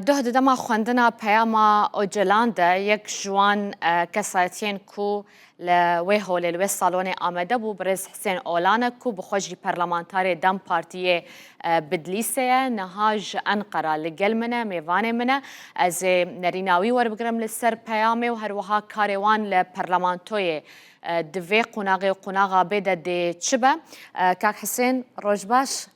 Doh di dema xwendina peyama Ocalan de yek ji wan kesayetiyên ku li wê holê li wê salonê amede bû birêz Hisên Olan e ku bi xwe jî parlamentarê dem partiyê Bidlîsê ye niha ji Enqera li gel min e mêvanê min e ez ê nerîna wî werbigirim li ser peyamê û her wiha karê wan li parlamentoyê di vê qonaxê û qonaxa bê de dê çi be? Kak Hisên roj baş.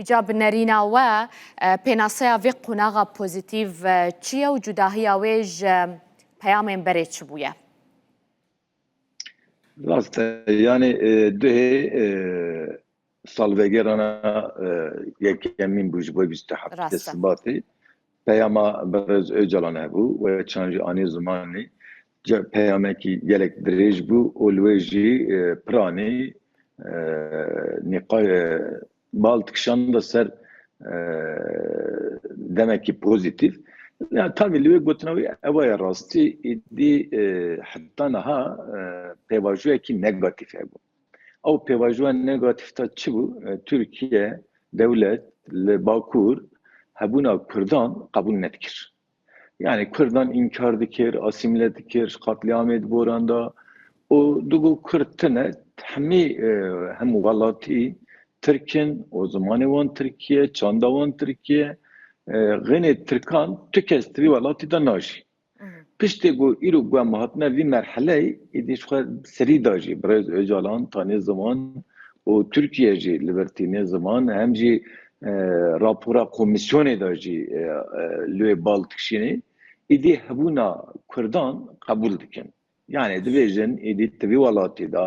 Îca bi nerîna we pênaseya vê qonaxa pozîtîv çi ye û cudahiya wê ji peyamên berê çi bûye? Rast e. Yanî duhê salvegera yekemîn bû ji bo bîst û heft Sibatê. Peyama Berez Ocalan hebû wê çand jî anî zimanî peyamekî gelek dirêj bû û li wê jî piranî nîqaş bal dikişanda ser demekî pozîtîf. Ya tavî li wê gotina wî ewa ye rastî, îdî heta niha pêvajoyekî negatîf hebû. Ew pêvajoya negatîf ta çi bû? Tirkiye dewlet li Bakur hebûna Kurdan qebûl nedikir. Yani Kurdan înkar dikir, asîmile dikir, qatliamê diboranda û digo Kurd tune hemî hemû welatî Tirk in û zimanê wan Tirkî ye, çanda wan Tirkî ye. Xênê Tirkan tu kes di vî welatî de najî. Piştî ku îro guhma hatine vî merheleyê, êdî ji xwe bi serî da jî birêz Ocalan tanê ziman û Tirkiye jî li vir tîne ziman hem jî rapora komîsyonê da jî li wê bal dikişînê, êdî hebûna kurdan qebûl dikin. Yanî dibêjin êdî ti vî welatî de,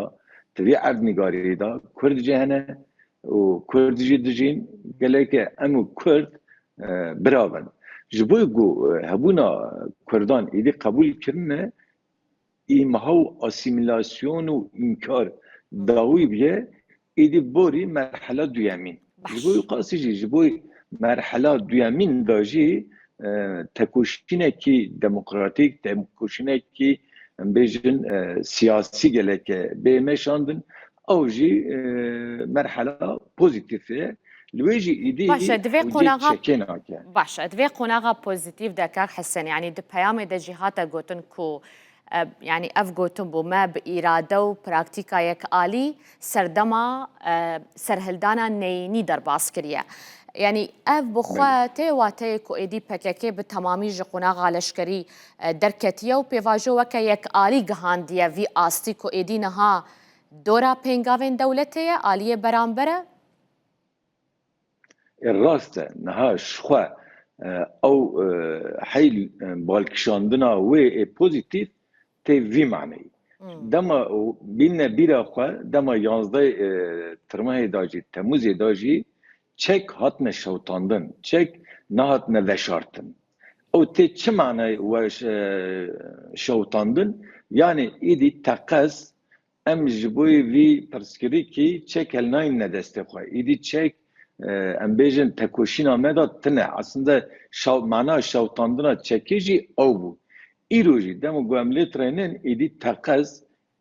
ti vî erdnîgarî de kurd jî hene û kurd jî dijîn. Gelekê em û kurd bira bin. Ji bo ku hebûna kurdan êdî qebûl kirine îmha û asîmîlasyon û înkar dawî bûye Êdî borî merhela duyemîn. Ji bo wî qasî jî ji bo merhela duyemîn de jî tekoşînekî demokratîk, tekoşînekî em bêjin siyasî geleke bê meşandin ew jî merhela pozîtîf e. Li wê jî êdî ewcî çekê nake. Baş e. Di vê qonaxa pozîtîf de kak Hesen yanî di peyamê de jî hate gotin ku Yanî ev gotin bû me bi îrade û praktîkayek alî serdema serhildana neyînî derbas kiriye. Yanî ev bi xwe tê wateyê ku êdî pkk bi temamî ji qonaxa leşkerî derketiye û pêvajo weke yek alî gihandiye vî astî ku êdî niha dora pêngavên dewletê ye aliyê beramber e. E rast e, niha ji xwe ew heyl balkişandina wê ê pozîtîf tê vî maneyî. Dema bîne bîra xwe dema yanzdeh Tirmehê de jî Temûzê de jî çek hatine şewitandin, çek nehatine veşartin. Ew tê çi maneyê we şewitandin? Yanî îdî teqez Em ji bo vî pirsgirêkî çek helinayîne destê xwe. Îdî çek em bêjin tekoşîna me de tune. Eslinda mana şewitandina çekê jî ew bû. Îro jî dema ku em lê tirênin îdî teqez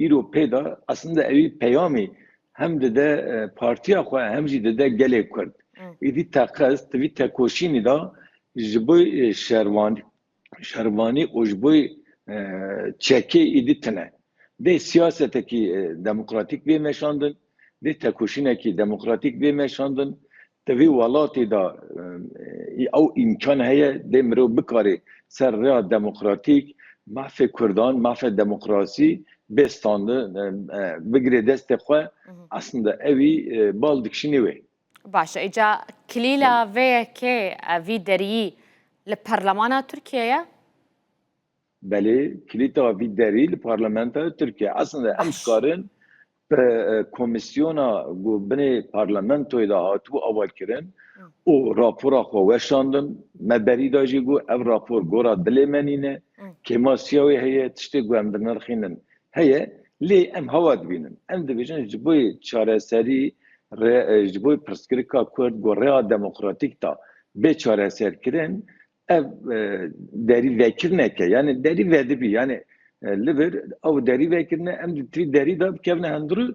îro pê de eslinda ewî peyamê hem dide partiya xwe hem jî dide gelê Kurd. Îdî teqez di vî tekoşînî de ji bo şervanî şervanî û ji bo çekê êdî tune. Dê siyasetekî demokratîk bê meşandin, dê tekoşînekî demokratîk bê meşandin. Di vî welatê de ew îmkan heye, dê mirov bikarê ser rêya demokratîk mafê kurdan, mafê demokrasî bê standin, bigirê destê xwe. Eslinde ewî bal dikişînî wê. Baş e îca kilîla vê yekê vî deriyî li parlemana Tirkiye ye? Belê kilîta vî derî li parlamentoya Tirkiye. Eslinde em dikarin bi komîsyona ku binê parlamentoyê de hatibû aval kirin û rapora xwe weşandin. Me berî da jî got ev rapor gora dilê me nîne. Kêma siya wê heye tiştê ku em dinirxînin Heye, lê em hewa dibînin. Em dibêjin ji bo çareserî rê ji bo pirsgirêka Kurd ku rêya demokratîk da bê çareserkirin ev derî vekirneke yanî derî vedibî yanî li vir ew derî vekirine em di tirî derî de bikevine hundirû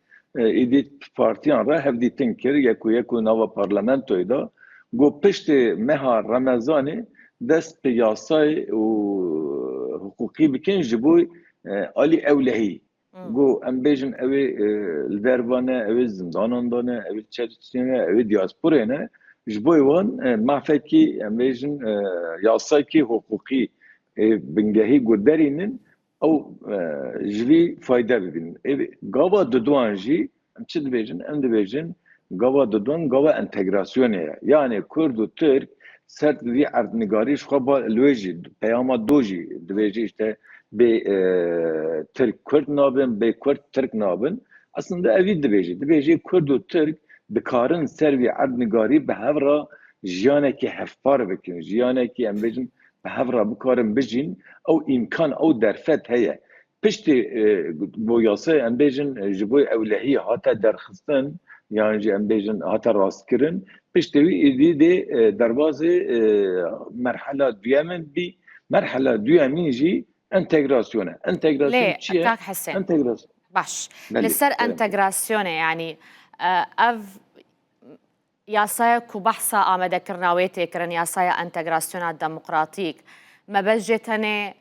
Êdî partiyan re hevdîtin kir yek û yek û nava parlamentoyê de got piştî meha remezanê dest bi yasayê û hiqûqî bikin ji bo alî ewlehî. Got em bêjin ew ê li derve ne, ew ê zindanan de ne, ew ê li Çerçînê ne, ew ê dîasporê ne. Ji bo wan mafekî em bêjin yasayekî hiqûqî ê bingehî got derînin Ew ji vî fayde bibînin. Ê gava duduan jî em çi dibêjin? Em dibêjin gava duduan gava entegrasyonê ye. Yanê kurd û tirk ser bi vî erdnigarî ji xwe ba li wê jî peyama do jî dibêje îşte bê tirk kurd nabin, bê kurd tirk nabin. Eslinde evî dibêje. Dibêje kurd û tirk dikarin ser vî erdnigarî bi hev re jiyanekî hevpar bikin. Jiyanekî em bêjin bi hev re bikarin bijîn ew îmkan ew derfet heye. Piştî bo yasaya em bêjin ji bo ewlehiyê hate derxistin yan jî em bêjin hate rastkirin, piştî wî êdî dê derbazê merhela duyemin bî. Merhela duyemîn jî entegrasyon e. Entegrasyon Lê çi ye? Kak Hesên. Entegras. Baş. Belê. Li ser Belê. entegrasyonê yanî ev Yasayek ku behsa amadekirina wê tê kirin yasaya entegrasyona demokratîk. Mebest jê tenê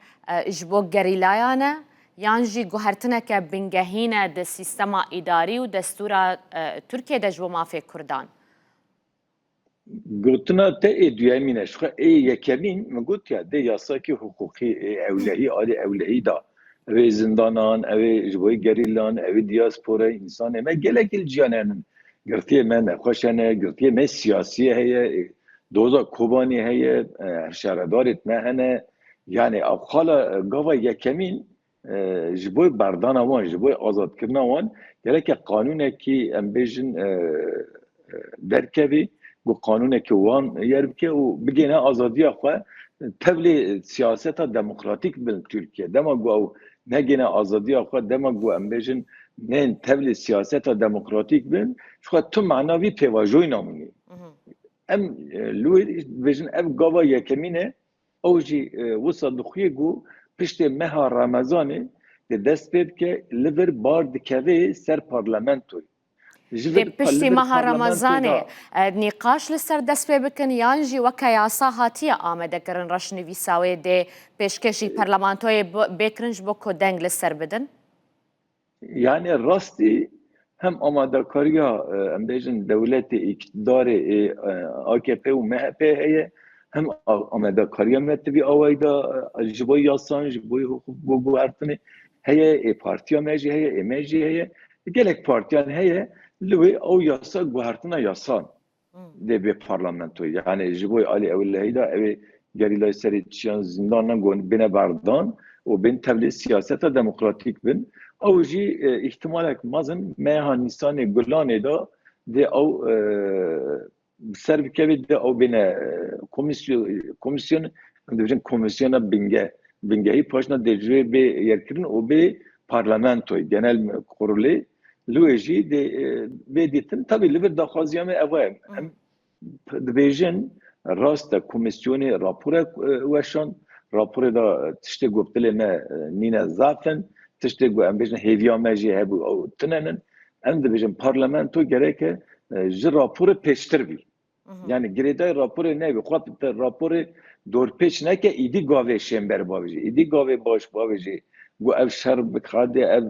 ji bo gerîlayan e yan jî guhertineke bingehîn e di sîstema îdarî û destûra Tirkiyê de ji bo mafê Kurdan? Gotina te ê duyemîn e. Jixwe ê yekemîn min gotiya dê yasayekî hiqûqî ê ewlehî alî ewlehî da. Evê zindanan, evê ji bo gerîlan, evê diasporayê, însanê me gelekî li cîyanê henin. Girtiyê me nexweş hene, girtiyê me siyasî heye, doza Kobanî heye, hevşaredarêt me hene. Yanî ev xala gava yekemîn ji bo berdana wan, ji bo azadkirina wan gereke qanûnekî em bêjin derkevî ku qanûneke wan yer bike û bigêne azadiya xwe tevlê siyaseta demokratîk bi Tirkiye. Dema ku ew negêne azadiya xwe, dema ku em bêjin neyên tevlê siyaseta demokratîk bin, jixwe tu mana vî pêvajoyî namînî. Em li wê dibêjin ev gava yekemîn e, ew jî wisa dixuye ku piştê meha Remezanê dest pê bike li vir bar dikeve ser parlamentoyê. Lê piştî meha Remezanê nîqaş li ser dest pê bikin yan jî weke yasa hatiye amadekirin reşnivîsa wê dê pêşkêşî parlamentoyê bê kirin ji bo ku deng li ser bidin? Yani rastî hem amadekariya em bêjin dewletê îktidarê ê AKP û MHP heye hem amadekariya me tivî awayî de ji bo yasan ji bo hukuk bo guhertinê heye ê partiya me jî heye ê me jî heye Gelek partiyan heye li wê ew yasa guhertina yasan dê bê parlamentoyê. Yani ji bo alî ew li heyda ew ê gerîlayê serê çiyan zindanan gon bêne berdan û bên tevlê siyaseta demokratîk bin. Ew jî îhtimalek mezin meha Nîsanê Gulanê de dê ew Bi ser bikevê di ew bêne komisyon, komisyon, em dibêjin komisyona bingeh. Bingehî paşna dê ji wê bê yerkirin û bê parlamentoyê, genel kurulê. Li wê jî dê bê dîtin. Tevî li vir daxwaziya me ev e. Em dibêjin rast e komisyonê raporek weşand. Raporê de tiştê ku bi dilê me nîne zaf in. Tiştê ku em bêjin hêviya me jî hebû ew tune in. Em dibêjin parlamento gereke ji raporê pêştir bî. Yani girêdayê raporê nebî. Xwe raporê dorpêç neke îdî gavê şênber bavê jî. Îdî gavê baş bavê jî got ev şer bixadê ev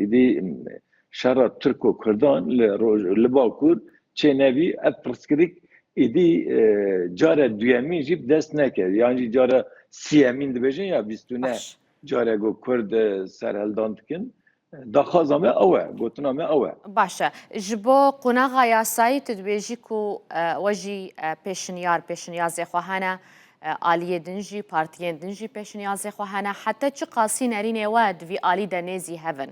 îdî şera Tirk û Kurdan li roj li Bakur çê nebî ev pirsgirêk îdî care duyemîn jî bi dest neke. Yan jî care siyemîn dibêjin ya bîst û neh care got Kurd serhildan dikin. Daxwaza me ew e, gotina me ew e. Baş e. Ji bo qonaxa yasayî tu dibêjî ku we jî pêşinyar, pêşinyazê xwe hene, aliyê din jî, partiyên din jî pêşinyazê xwe hene. Heta çi qasî nerînê we di vî alî de nêzî hev in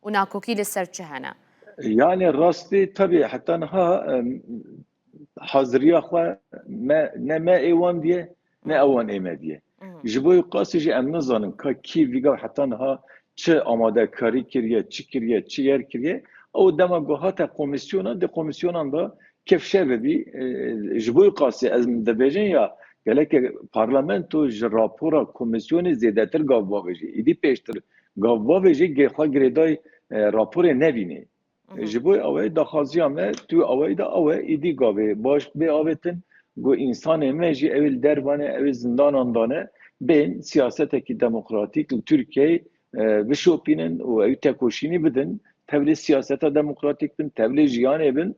û nakokî li ser çi hene? Yanê rastî tevî heta niha haziriya xwe me ne me ê wan diye ne ew wan ê me diye. Ji bo qasî jî em nizanin ka kî vîga heta niha çi amadekarî kiriye, çi kiriye, çi yer kiriye. Ew dema ku hate komîsyona di komîsyonan de kevşe bibî ji bo qasî ez dibêjin ya geleke parlamento ji rapora komîsyonê zêdetir gav bavêjî. Îdî pêştir gav bavêjî xwe girêdayî raporê nebînê. Ji bo ew daxwaziya me tu ew de ew îdî gavê baş bê avêtin ku însanê me jî ew li dervanê ew zindanan dane bên siyasetekî demokratîk li Tirkiyeyê bişopînin û ew tekoşînî bidin tevlê siyaseta demokratîk bin tevlê jiyanê bin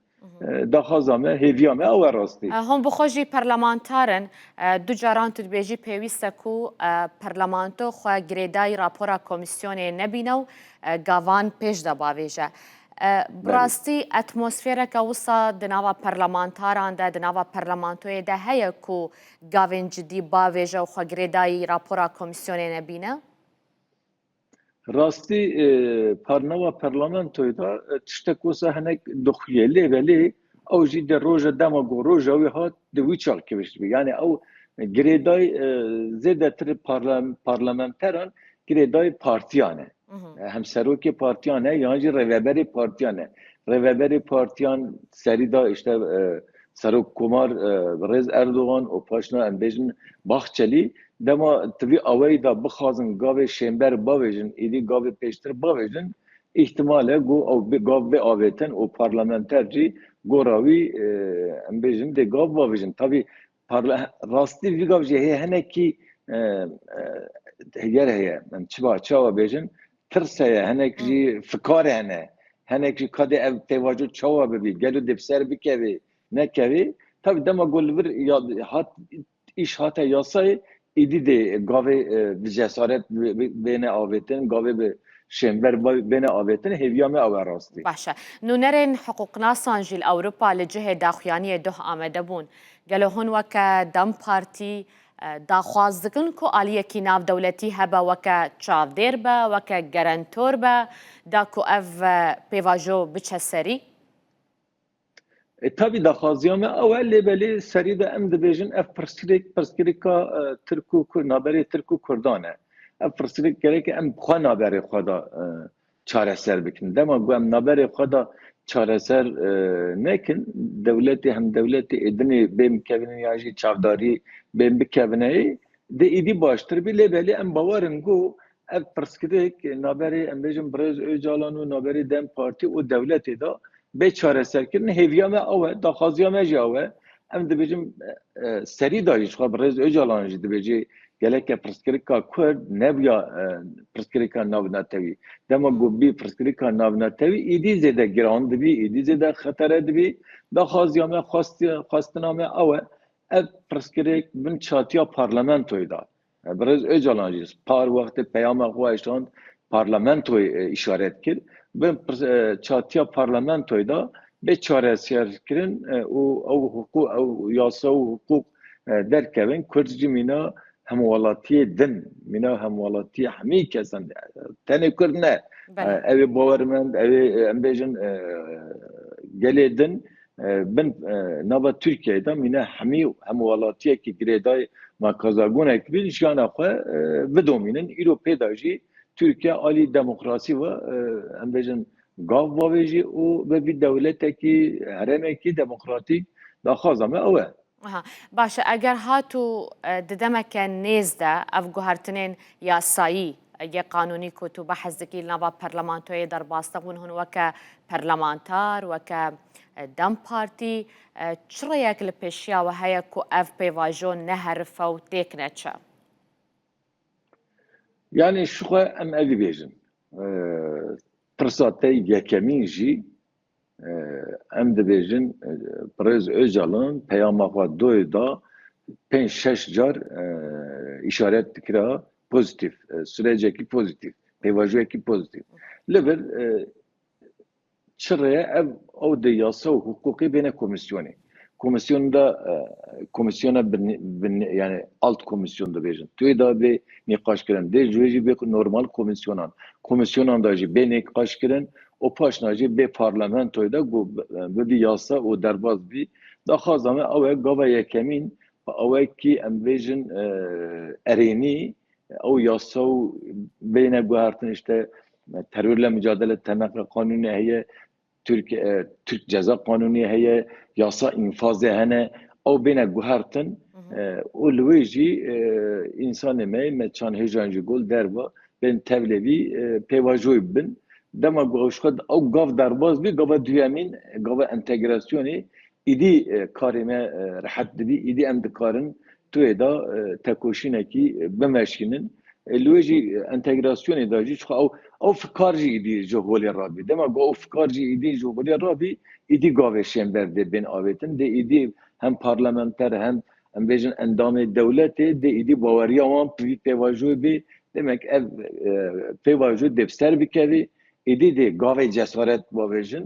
daxwaza me hêviya me ew rastî. Hûn bi xwe jî perlemantar in du caran tu dibêjî pêwîste ku perlemanto xwe girêdayî rapora komîsyonê nebîne û Gavan pêş de bavêje. Bi rastî atmosfêreke wisa di nava perlemantaran de, di nava perlemantoyê de heye ku gavên cidî bavêje û xwe girêdayî rapora komîsyonê nebîne? Rastî di nava perlemantoyê de tiştek wisa hinek dixuye lê belê Ew jî di roja dema ku roja wî hat di wî çax kiviştibû. Yanî ew girêdayî zêdetir parlamenteran girêdayî partiyan e. Hem serokê partiyan e yan jî rêveberê partiyan e. Rêveberê partiyan serî da îşte Serok Komar Birêz Erdogan û paşna em bêjin Bahçelî. Dema di vî awayî da bixwazin gavê şênber bavêjin êdî gavê pêştir bavêjin Îhtimal e ku ew bi gav bê avêtin û parlamenter jî gora wî em bêjin dê gav biavêjin. Tavî rastî vî gav jî heye hinekî heger heye em çiva çawa bêjin tirs heye hinek jî fikar hene hinek jî ka dê ev pêvajo çawa bibî gelo dê bi ser bikevê nekevê. Tavî dema ku li vir ya hat Îş hate yasayê, êdî dê gavê bi cesaret bêne avêtin, gavê bi şênber bêne avêtin, hêviya me ew e rastî. Baş e. Nûnerên hiqûqnasan jî li Ewropa li cihê daxuyaniyê doh amade bûn. Gelo hûn weke dem partî daxwaz dikin ku aliyekî navdewletî hebe weke çavdêr be, weke gerentor be da ku ev pêvajo biçe serî? E tabi daxwaziya me ew e lê belê serî de em dibêjin ev pirsgirêk pirsgirêka e, Tirk û Kurd naberê Tirk û Kurdan e. Ev pirsgirêk gereke em xwe naberê xwe da e, çareser bikin. Dema ku em naberê xwe da çareser e, nekin, dewletê hem dewletê êdinê bên bikevin yan jî çavdarî bên bikevine yê, dê êdî baştir bê lê belê em bawer in ku Ev pirsgirêk naberê em bêjin birêz Ocalan û naberê dem Partî û dewletê de bê çareserkirin hêviya me ew e, daxwaziya me jî ew e. Em dibêjin serî da jî jixwe birêz Ocalan jî dibêjê geleke pirsgirêka Kurd nebûya pirsgirêka navnetewî. Dema ku bibî pirsgirêka navnetewî êdî zêde giran dibî, êdî zêde xetere dibî. Daxwaziya me xwestina me ew e. Ev pirsgirêk bin çatiya parlamentoyê de Birêz Ocalan jî par wextê peyama xwe eşand parlamentoyê îşaret kir, bi çatiya parlamentoyê de bê çareserkirin û ew hiqûq ew yasa û hiqûq derkevin. Kurd jî mîna hemwelatiyê din, mîna hemwelatiyê hemî kesan e. Tenê kurd ne. Ew ê bawermend, ew ê em bêjin gelê din Bin nava Tirkiyeyê de mîne hemî û hemwelatiyekî girêdayî ma kazagonek bîn jiyana xwe bidomînin. Îro pêda jî Tirkiye alî demokrasî ve em bêjin gav vavêjî û bi vî dewletekî herêmekî demokratîk daxwaza me ew e. Aha, baş e, eger hatû di demeke nêz de ev guhertinên yasayî yê qanûnî ku tu behs dikî li nava parlamentoyê derbas dixwin hûn weke parlamentar, weke dem partî çi rêyek li pêşiya we heye ku ev pêvajo neherife û têk neçe? Yanî şixwe em evî bêjin. Pirsa te yekemîn jî Em dibêjin Pirêz Ocalan peyama xwe doyê da pênc şeş car îşaret dikira pozîtîf, sirecekî pozîtîf, pêvajoyekî pozîtîf. Li vir çi rê ye ev ew di yasa û hiqûqê bêne komîsyonê. Komîsyonê de komîsyona yanî alt komîsyon dibêjin. Tuyê de bê nîqaşkirin. Dê ji wê jî bê normal komîsyonan. Komîsyonan de jî bê nîqaşkirin û paşna jî bê parlamentoyê de ku bibî yasa û derbas bî. Daxwaza me ew e gava yekemîn ewe kî em bêjin erênî ew yasa û bêyne guhertin îşte terorle micadele tenaqe qanûnê heye Tirk Tirk ceza qanûnê heye, yasa înfazê hene, ew bêne guhertin û li wê jî însanê me me çand hêjan ji gul derve bên tevlê vî pêvajoyê bibin. Dema ku ew ji xwe ew gav derbas bî gava duyemîn gava entegrasyonê Îdî karê me rehet dibî, îdî em dikarin tuyê de tekoşînekî bimeşînin. Li wê jî entegrasyonê de jî çiqas ew fikar jî îdî ji holê re bî. Dema ku ew fikar jî îdî ji holê re bî, îdî gavê şênber dê bên avêtin. Dê îdî hem parlamenter hem em bêjin endamê dewletê dê îdî baweriya wan vî pêvajoyê bê. Demek ev pêvajo dê bi ser bikevê. Îdî dê gavê cesaret bavêjin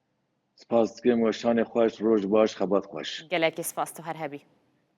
Spas dikim weşanê xweş roj baş xebat xweş. Gelekî spas tu her hebî.